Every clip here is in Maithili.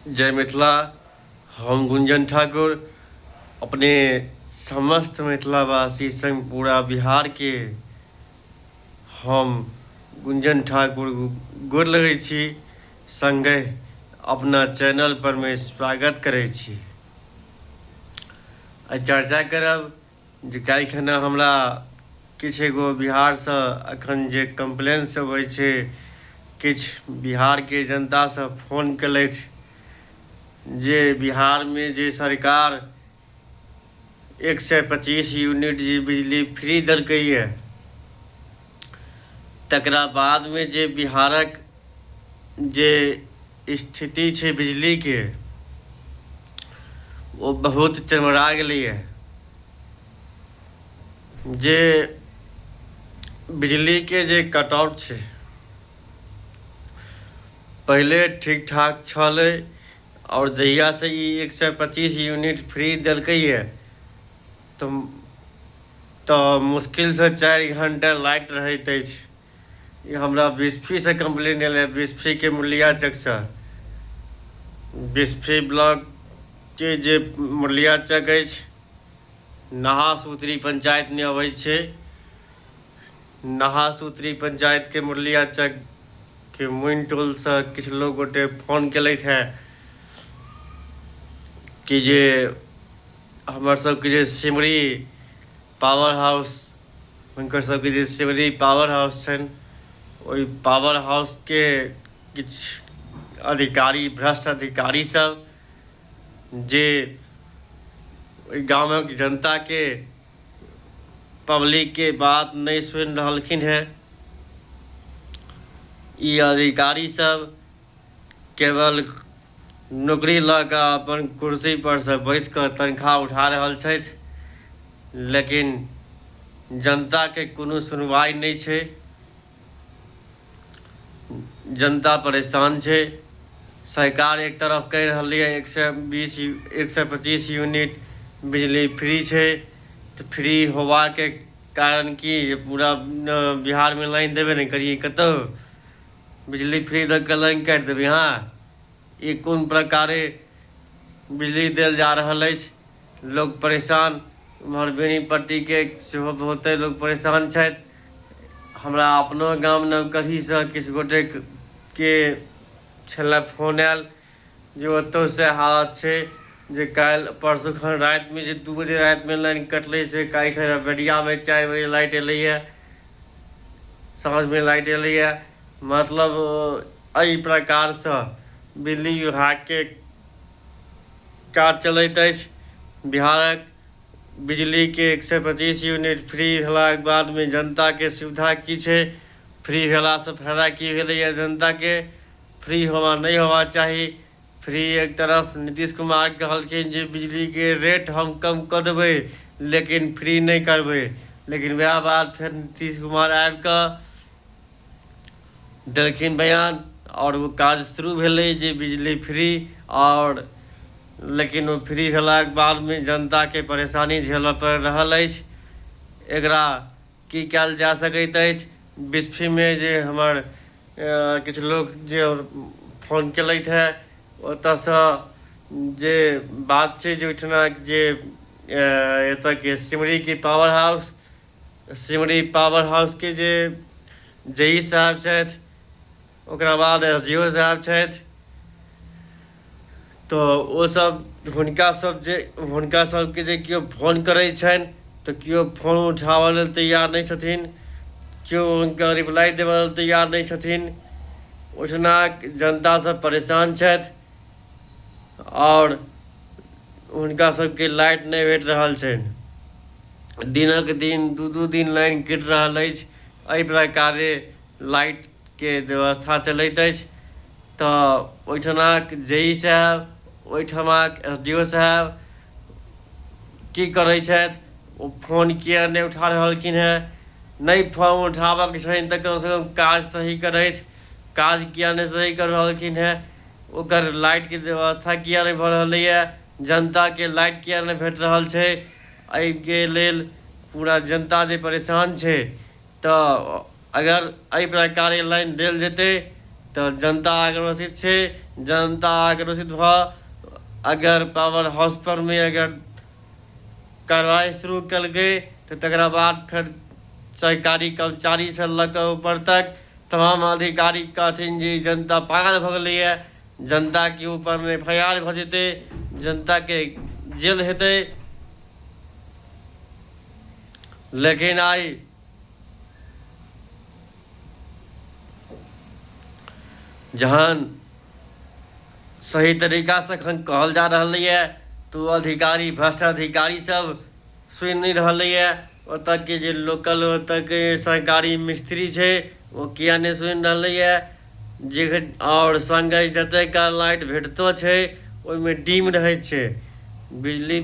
जय मिथिला हम गुंजन ठाकुर अपने समस्त मिथिलावासी संग पूरा बिहारके हम गुंजन ठाकुर गोर लगै छी संगे अपना चैनल पर मे स्वागत करै छी आ चर्चा करब जे काल्हि खना हमरा किछु एगो बिहारसँ एखन जे कम्प्लेनसभ होइ छै किछु बिहारके जनतासँ फोन केलथि जे बिहारमे जे सरकार एक सए पच्चीस यूनिट जे बिजली फ्री देलकैए तकरा बादमे जे बिहारक जे स्थिति छै बिजलीके ओ बहुत चरमरा गेलैए जे बिजलीके जे कटआउट छै पहिले ठीक ठाक छलै आओर जहियासँ ई एक सए पच्चीस यूनिट फ्री देलकैए तऽ तऽ मुश्किलसँ चारि घण्टा लाइट रहैत अछि हमरा बिस्फीसँ कम्प्लेन एलै बिस्फीके मुरलिया चकसँ बिस्फी ब्लॉकके जे मुरलिया चक अछि नहा सूत्री पंचायत नहि अबै छै नहा सूत्री पंचायतके मुरलिया चकके मुनि टोलसँ किछु लोक गोटे फोन केलथि हेँ कि जे हमर सबके जे सिमरी पावर हाउस हुनकर सबके जे सिमरी पावर हाउस छनि ओहि पावर हाउसके किछु अधिकारी भ्रष्ट अधिकारी सब जे ओहि गामक जनताके पब्लिकके बात नहि सुनि रहलखिन हेँ ई अधिकारी सब केवल नौकरी लऽ कऽ अपन कुर्सी पर से बैस कऽ तनख्वाह उठा रहल छथि लेकिन जनता के कोनो सुनवाई नहि छै जनता परेशान छै सरकार एक तरफ कहि रहल यऽ एक सए बीस एक सए पच्चीस यूनिट बिजली फ्री छै तऽ फ्री होबाके कारण की पूरा बिहारमे लाइन देबे नहि करियै कतहु बिजली फ्री दऽ कऽ लाइन काटि देबै अहाँ ई कोन प्रकारे बिजली देल जा रहल अछि लोक परेशान एम्हर बेनीपट्टीके सेहो बहुते लोक परेशान छथि हमरा अपनो गाम नवकढ़ीसँ किछु गोटेके छलए फोन आयल जे ओतहु सएह हालत छै जे काल्हि परसू खन रातिमे जे दू बजे रातिमे लाइन कटलै से काल्हि खन बेरियामे चारि बजे लाइट एलैए साँझमे लाइट एलैए मतलब एहि प्रकारसँ बिजली विभागके काज चलैत अछि बिहारक बिजलीके एक सए पच्चीस यूनिट फ्री भेलाके बादमे जनताके सुविधा की छै फ्री भेलासँ फायदा की भेलैए जनताके फ्री होना नहि होना चाही फ्री एक तरफ नीतीश कुमार कहलखिन जे बिजलीके रेट हम कम कऽ देबै लेकिन फ्री नहि करबै लेकिन वएह बात फेर नीतीश कुमार आबि कऽ देलखिन बयान आओर ओ काज शुरू भेलै जे बिजली फ्री आओर लेकिन ओ फ्री भेलाके बादमे जनताके परेशानी झेलय पड़ि रहल अछि एकरा की कयल जा सकैत अछि बिस्फीमे जे हमर किछु लोक जे फोन केलथि हँ ओतऽसँ जे बात छै जे ओहिठिना जे एतऽके सिमरीके पावर हाउस सिमरी पावर हाउसके जे जे ई साहब छथि ओकरा बाद एस डी ओ साहब छथि तऽ ओसभ हुनकासभ जे हुनकासभके जे केओ फोन करै छनि तऽ केओ फोन उठाबऽ लेल तैयार नहि छथिन केओ हुनका रिप्लाइ देबऽ लेल तैयार नहि छथिन ओहिठामक जनतासभ परेशान छथि आओर हुनकासभके लाइट नहि भेट रहल छनि दिनक दिन दू दू दिन लाइन कटि रहल अछि एहि प्रकारे लाइट के व्यवस्था चलैत अछि तऽ ओहिठिनाक जे ई साहेब ओहिठमाक एस डी ओ साहेब की करै छथि ओ फोन किए नहि उठा रहलखिन हेँ नहि फोन उठाबयके छनि तऽ कमसँ कम काज सही करथि काज किए नहि सही कऽ रहलखिन हेँ ओकर लाइटके व्यवस्था किए नहि भऽ रहलैए जनताके लाइट किए नहि भेट रहल छै एहिके लेल पूरा जनता जे परेशान छै तऽ अगर एहि प्रकारे लाइन देल जेतै तऽ जनता आक्रोशित छै जनता आक्रोशित भऽ अगर पावर हाउस परमे अगर कार्रवाइ शुरू केलकै तऽ तकरा बाद फेर सरकारी कर्मचारीसँ लऽ कऽ ऊपर तक तमाम अधिकारी कहथिन जे जनता पागल भऽ गेलैए जनताके ऊपरमे एफ आई आर भऽ जेतै जनताके जेल हेतै लेकिन आइ जहन सही तरीकासँ एखन कहल जा रहलैए तऽ ओ अधिकारी भ्रष्ट अधिकारीसभ सुनि नहि रहलैए ओतयके जे लोकल ओतयके सरकारी मिस्त्री छै ओ किएक नहि सुनि रहलैए जे आओर सङ्गे जते काल लाइट भेटतो छै ओहिमे डीम रहै छै बिजली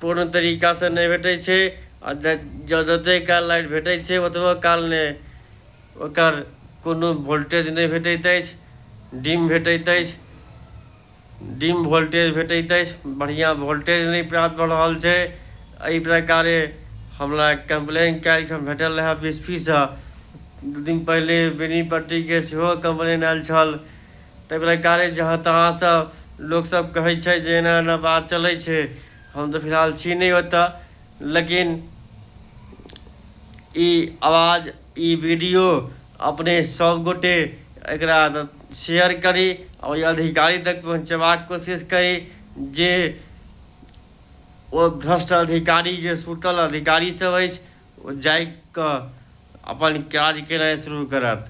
पूर्ण तरीकासँ नहि भेटै छै आ जते काल लाइट भेटै छै ओतबो काल नहि ओकर कोनो वोल्टेज नहि भेटैत अछि डीम भेटैत अछि डिम वोल्टेज भेटैत अछि बढ़िआँ वोल्टेज नहि प्राप्त भऽ रहल छै एहि प्रकारे हमरा कम्प्लेन कयल छल भेटल रहए बी एस पी सँ दू दिन पहिले बेनीपट्टीके सेहो कम्प्लेन आयल छल ताहि प्रकारे जहाँ तहाँसँ लोकसभ कहै छै जे एना एना बात चलै छै हम तऽ फिलहाल छी नहि ओतय लेकिन ई आवाज ई वीडियो अपने सब गोटे एकरा शेयर करी और ये अधिकारी तक पहुँचेबाक कोशिश करी जे ओ भ्रष्ट अधिकारी जे सुटल अधिकारी सब अछि ओ जाय कऽ अपन काज केनाइ शुरू करत